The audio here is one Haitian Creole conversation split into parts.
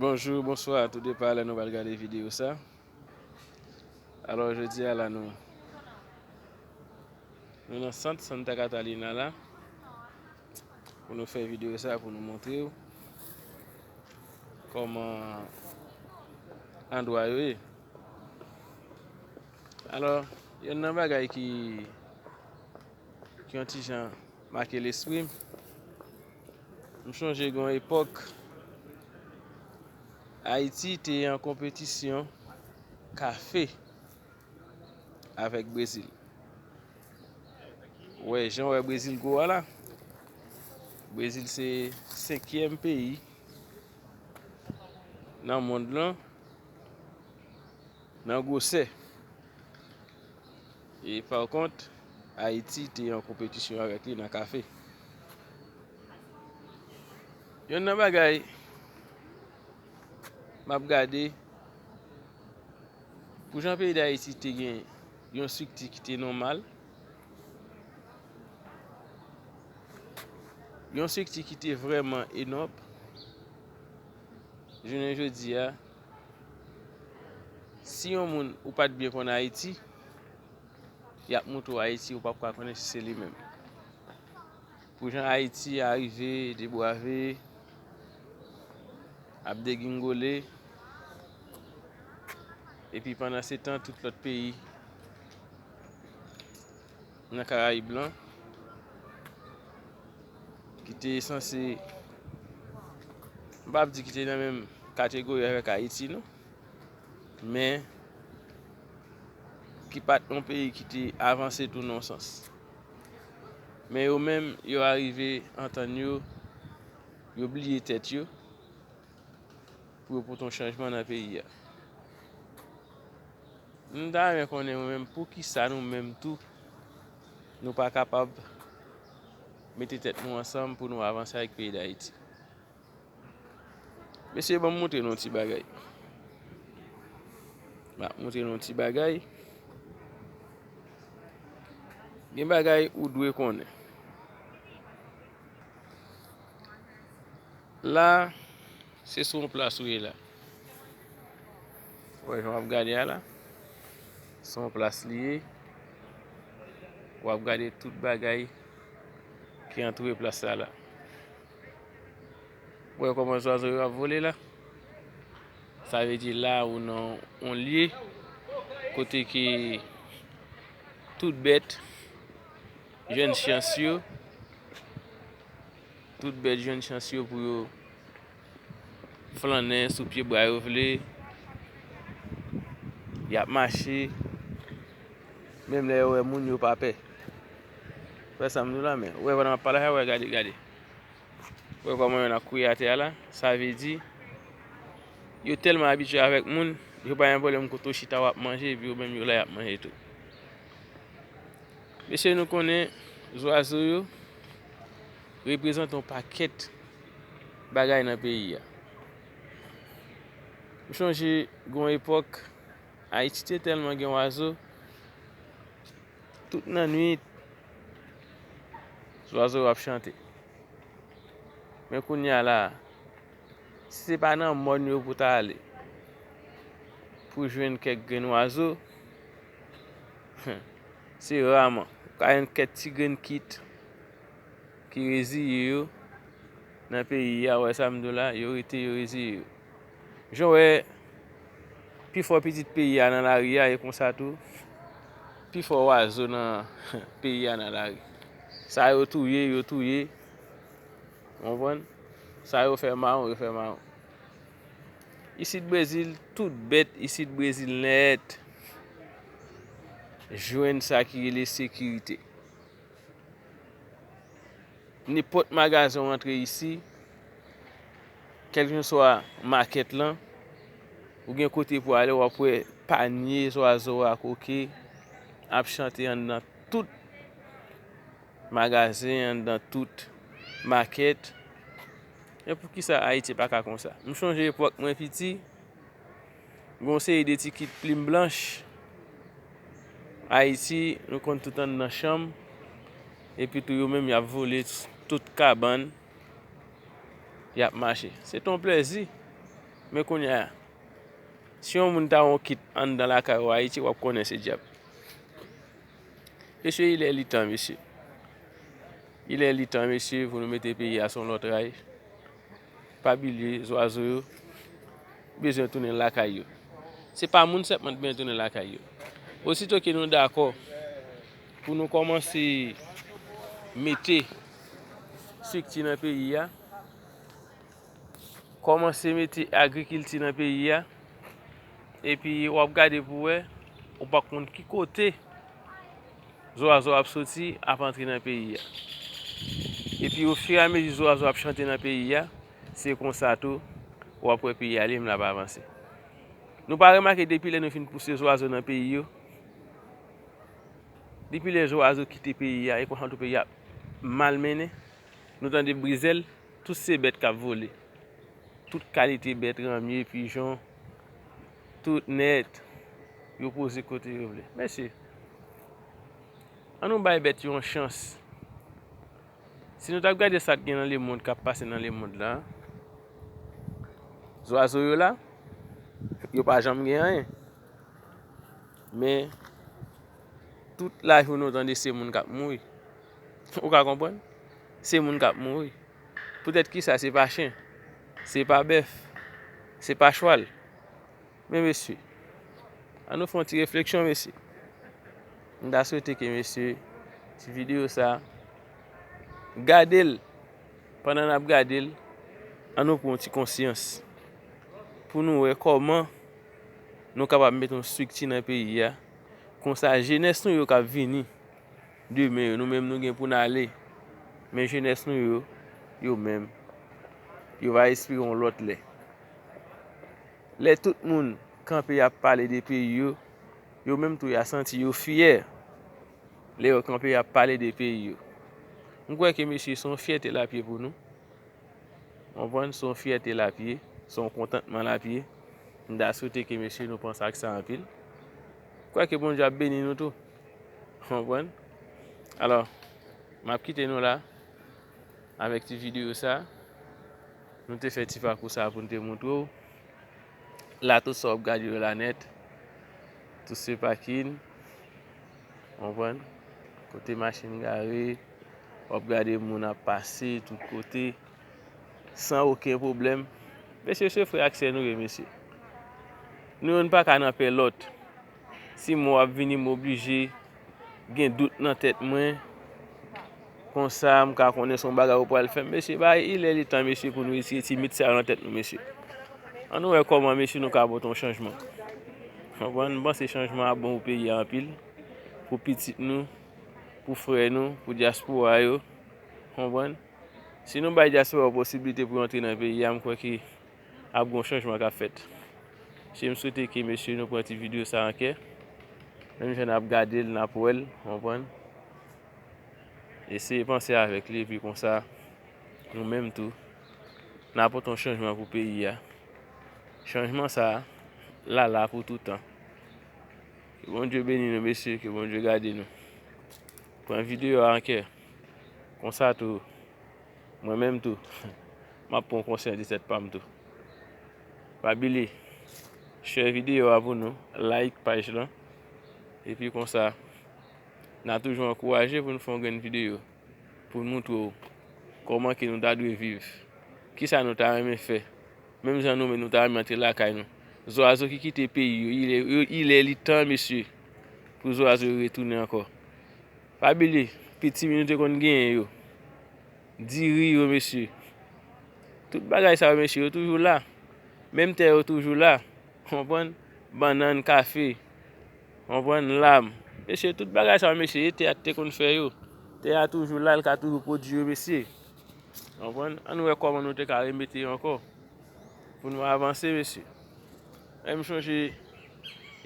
Bonjou bonswa tou depa lè nou pral gade video sa alò jodi a la nou nou nan sant Santa Catalina la pou nou fè video sa pou nou montre ou kòman andwa yo e alò yon nan bagay ki Ki yon ti jan make lespri m. M chonje gen yon epòk Ayiti te an konpetisyon kafe avèk Brezil. Ou wè jan ou wè Brezil gwo a la. Brezil se senkyèm peyi nan mond lan. Nan gwosè. E par kont, Ayiti te an konpetisyon avèk li nan kafe. Yonn nan bagay m ap gade, pou jan peyi Dayiti te gen yon estrikti ki te nòmal, yon estrikti ki te vrèman enòb, jounen jodi a, Si yon moun ou pat byen konn Ayiti, yap moutre w Ayiti ou pap ka konnen si se li menm. Pou jan Ayiti a rive debwave, ap degingole, epi pandan se tan tout lòt peyi. nan karayib lan ki te sanse m pa ap di ki te nan menm kategori avèk Ayiti non men ki pa t yon peyi ki te avanse tou nan yon sans men yo menm yo arive antann yo yo bliye tèt yo Pou yo pote yon chanjman nan peyi a. M ta renmen konnen mwen menm poukisa nou menm tou nou pa kapab mete tèt nou ansanm pou nou avanse ak peyi Dayiti. Mesye banm montre nou yon ti bagay. M ap montre nou yon ti bagay. Gen bagay ou dwe konnen. La se sou yon plas ou ye la. Wè jan wap gade a la. Sou yon plas li ye. Wap gade tout bagay ki antoure plas la la. Wè koman zwazo yo ap vole la. Sa ve di la ou nan yon lye kote ki tout bèt jèn chans yo. Tout bèt jwenn chans yo pou yo flannen sou pye bwa yo vle. Y ap mache, menm lè yo wè moun yo pa pè. Wè sa m di w la men. Wè pandan m ap pale a, wè gade, gade. Wè kòman yonn ap kouye atè a la. Sa vle di, yo tèlman abitye avèk moun, yo pa gen pwoblèm kote w chita w ap manje epi yo menm yo la y ap manje tou. Mesye nou konnen zwazo yo? reprezante yon pakèt bagay nan peyi a. M chonje gon epòk, Ayiti te tèlman gen wazo, tout nan nwit, zwazo yo ap chante. Men kounye a la, si se pa nan mòn yo pou ta ale, pou jwenn kèk grenn wazo, Se raman ou ka jwenn kèk ti grenn kit ki reziye yo nan peyi a, wè sa m di w la, yo rete yo reziye yo. Jan w wè pi fò pitit peyi a nan lari a e konsa tou pi fò wazo nan peyi a nan lari. Sa yo touye, yo touye, ou konprann, sa yo fè mawon, yo fè mawon. Isit brezil tout bet isit brezil net jwenn sa ki rele sekirite nenpot magazen ou antre isi kelkeswa maket lan ou gen kote pou ale wap we panye zwazo ak oke ap chante andan tout magazen andan tout maket Men poukisa Ayiti pa ka konsa? M chonje epòk mwen piti, gen yon seri de ti kit plim blanch, Ayiti, nou konn tout anndan chanm, epi tou yo menm y ap vole tout kabann, y ap mache. Se te yon plezi. Men kounye a, si yon moun ta wè yon kit anndan lakay ou Ayiti, w ap konnen se dyab. Mesye, ilè li tan, mesye. Ilè li tan mesye pou nou mete peyi a son lòt ray pa bilye zwazo yo bezwen tounen lakay yo se pa moun sèpman t bezwen tounen lakay yo osito ke nou dakò pou nou kòmanse mete sikti nan peyi a. Kòmanse mete agrikilti nan peyi a, epi w ap gade pou wè, ou pa konn ki kote zwazo ap soti ap antre nan peyi a. Epi ofiramezi zwazo ap chante nan peyi a, se konsa tou w ap wè peyi a li menm l ap avanse. Nou pa remake depi lè nou fin pouse zwazo nan peyi yo, depi lè zwazo kite peyi a, e konsa tou peyi a ap malmennen. Nou tande brizèl, tout se bèt k ap vole. Tout kalite bèt, ranmye, pijon, tout nèt, yo poze kote yo vle. Mesye, an nou bay bèt yo yon chans. Si nou t ap gade sa k gen nan lemonn, k ap pase nan lemonn la, zwazo yo la, yo pa janm gen anyen. Men, tout lajounen ou tande se moun k ap mouri. Ou ka konprann? Se moun k ap mouri. Poutèt ki sa se pa chen? Se pa bèf? Se pa chwal? Men mesye, an nou fè yon ti refleksyon mesye. M ta swete ke mesye, ti videyo sa, gade l, pandan n ap gade l, an nou pran yon ti konsyans. Pou nou wè kòman nou kapab mete yon strikti nan peyi a, konsa jenès nou yo k ap vini. Demen yo, nou menm nou gen pou n ale. Men jenès nou yo, yo menm, yo va espere yon lòt lè. Lè tout moun kanpe y ap pale de peyi yo, yo menm tou y a santi yo fyè lè yo kanpe y ap pale de peyi yo. M kwè ke mesye se yon fyète l ap ye pou nou. Ou konprann? Se yon fyète l ap ye, se yon kontantman l ap ye. M ta swete ke mesye nou panse ak sa anpil. M kwè ke Bondye ap beni nou tou. Konprann? Alò, m ap kite nou la avèk ti videyo sa. Nou te fè ti pakou sa pou nou te montre w. La tout sa w ap gade yo la nèt. Tout se pakin. Konprann? Kote machin gare. W ap gade moun ap pase tout kote. San oken pwoblèm. Mesye se frè ak sè nou ye mesye. Nou youn pa ka nan pè lòt. Ti mo ap vini m oblije gen dout nan tèt mwen. Konsa m ka konnen son bagay ou pral fè. Mesye ba il è le tan mesye pou nou retire ti mit sa yo nan tèt nou mesye. An nou wè kòman mesye nou ka pote yon chanjman. Konprann? M panse chanjman ap bon pou peyi a anpil. Pou pitit nou, pou frè nou, pou dyaspora yo. Konprann? Si nou bay dyaspora yo posibilite pou yo antre nan peyi a m kwè ke ap gon chanjman kap fèt mesye m swete ke mesye nou pran ti video sa ankè menm jan nap gadel nap wèl ou konprann eseye panse avèk li epi konsa nou menm tou na pote yon chanjman pou peyi a chanjman sa la la pou toutan ke Bondye beni nou mesye ke Bondye gade nou pran video a ankè konsa tou. Mwen menm tou map pran konsyan de tèt pam tou. Pa bile share video a pou nou, like paj lan. Epi konsa na toujou ankouraje pou nou fè yon grenn video pou nou montre ou koman ke nou ta dwe viv. Kisa nou ta renmen fè. Menm jan nou menm nou ta renmen antre lakay nou. Zwazo ki kite peyi yo, ilè li tan mesye pou zwazo yo retounen ankò. Pa bile piti mi nou te konn genyen yo. Diri yo mesye. Tout bagay sa yo mesye yo toujou la. Menm tè yo toujou la. Konprann? Bannann, kafe. Konprann? Lam. Mesye tout bagay sa yo mesye e tè a te konn fè yo. Tè a toujou la, li ka toujou pwodui yo mesye. Konprann? An nou wè kòman nou te ka remete yo ankò. Pou nou avanse mesye. Menm chonje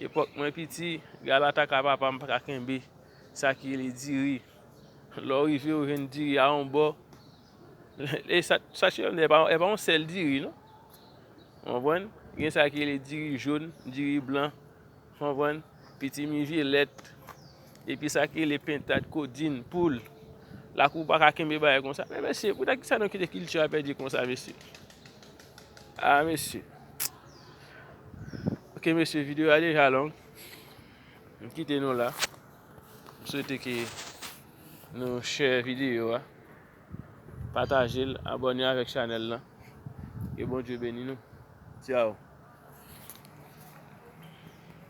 epòk mwen piti, galataka papa m pa ka kenbe. Sa ki rele diri. Lè w rive ou jwenn diri a yon bò. E sa sa cheri m di e pa yon sèl diri non. Ou konprann? Gen sa ki rele diri jòn, diri blan. Ou konprann? Pitimi vyelèt. Epi sa ki rele pentad, kodin, poul. Lakou pa ka kenbe bagay kon sa. Men mesye, pou ta ki sa nou kite kilti a pèdi kon sa mesye? A mesye. Ok mesye, videyo a deja long. M kite nou la. M swete ke nou share video a. Pataje l, abone avèk chanèl lan. Ke Bondye beni nou. Ciao.